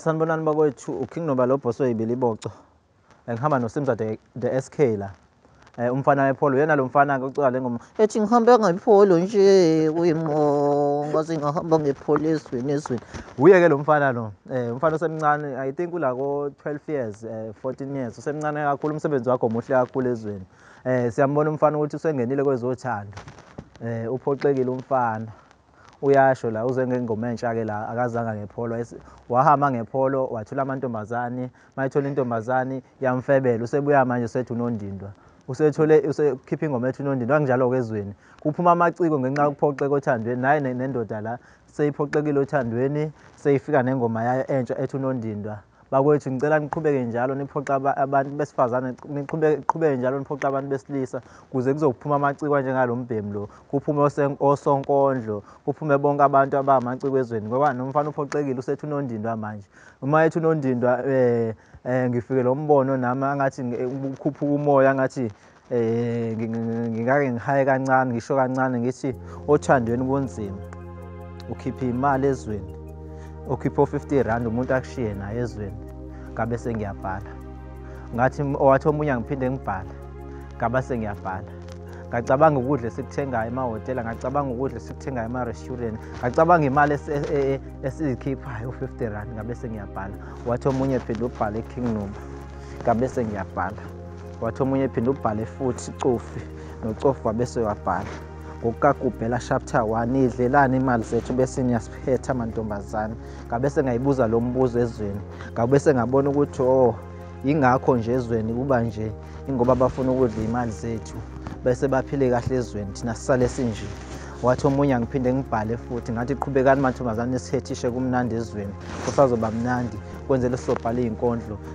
Sanibonani bakwethu uKing Nobalobho soyibiliboco. Ngihamba noSimza the, the SK la. Eh umfana wepholo uyena lo mfana ke ucika le ngoma. Ethi ngihamba ngepholo nje kuyimo ngaze ngihamba ngepholo ezweni ezweni. Uye ke lo mfana lo. Eh umfana osemncane I think ula ko 12 years eh 14 years usemncane kakhulu umsebenzi wakho omuhle kakhulu ezweni. Eh siyambona umfana ukuthi usengenile kwezothando. Eh uphoxekile umfana. uyasho la uze ngengoma entsha ke la akazanga ngepholo wahamba ngepholo wathula amantombazane mayithola intombazane yamfebela usebuya manje usethi unondindwa usethole usekhipha ingoma ethi unondindwa kanjalo ke ezweni kuphuma amaciko ngenxa yokuphoxeka othandweni naye nendoda la seyiphoxekile othandweni seyifika nengoma yayo entsha ethi unondindwa Bakwethu ngicela niqhubeke njalo niphoxa abantu besifazane niqhubeke njalo niphoxa abantu besilisa kuze kuzophuma amacikwa njengalo mbhemu lo kuphume osonkondlo kuphume bonke abantu abamacikwa ezweni ngoba nomfana uphoxekile usethi unondindwa manje uma ethi unondindwa um um ngifike lo mbono nami angathi kukhuphuka umoya angathi Eh ngingake ngihaye kancane ngisho kancane ngithi othandweni kunzima. Ukhipha imali ezweni. Ukhipha 50 rand umuntu akushiye naye ezweni. Ngabe sengiyabhala. Ngathi owathi omunye ngiphinde ngibhale. Ngaba sengiyabhala. ngacabanga ukudla esikuthengayo emahhotela ngacabanga ukudla esikuthengayo ema-restaurant ngacabanga imali e, e, e, esiyikhiphayo u-fifty rand ngabe sengiyabhala wathi omunye phinde ubhale king noma ngabe sengiyabhala wathi omunye ephinde ubhale futhi cofi nocofi wabese wabhala ngokukagubhela chapter 1 idlelani imali zethu bese niyasiphetha amantombazane ngabe sengayibuza lo mbuzo ezweni ngabe sengabona ukuthi o oh, yingakho nje ezweni kuba nje ingoba bafuna ukudla imali zethu bese baphile kahle ezweni thina sisale sinje wathi omunye angiphinde ngibhale futhi ngathi qhubekani mantombazane sithethishe kumnandi ezweni kusazoba mnandi kwenzele sobhala iy'nkondlo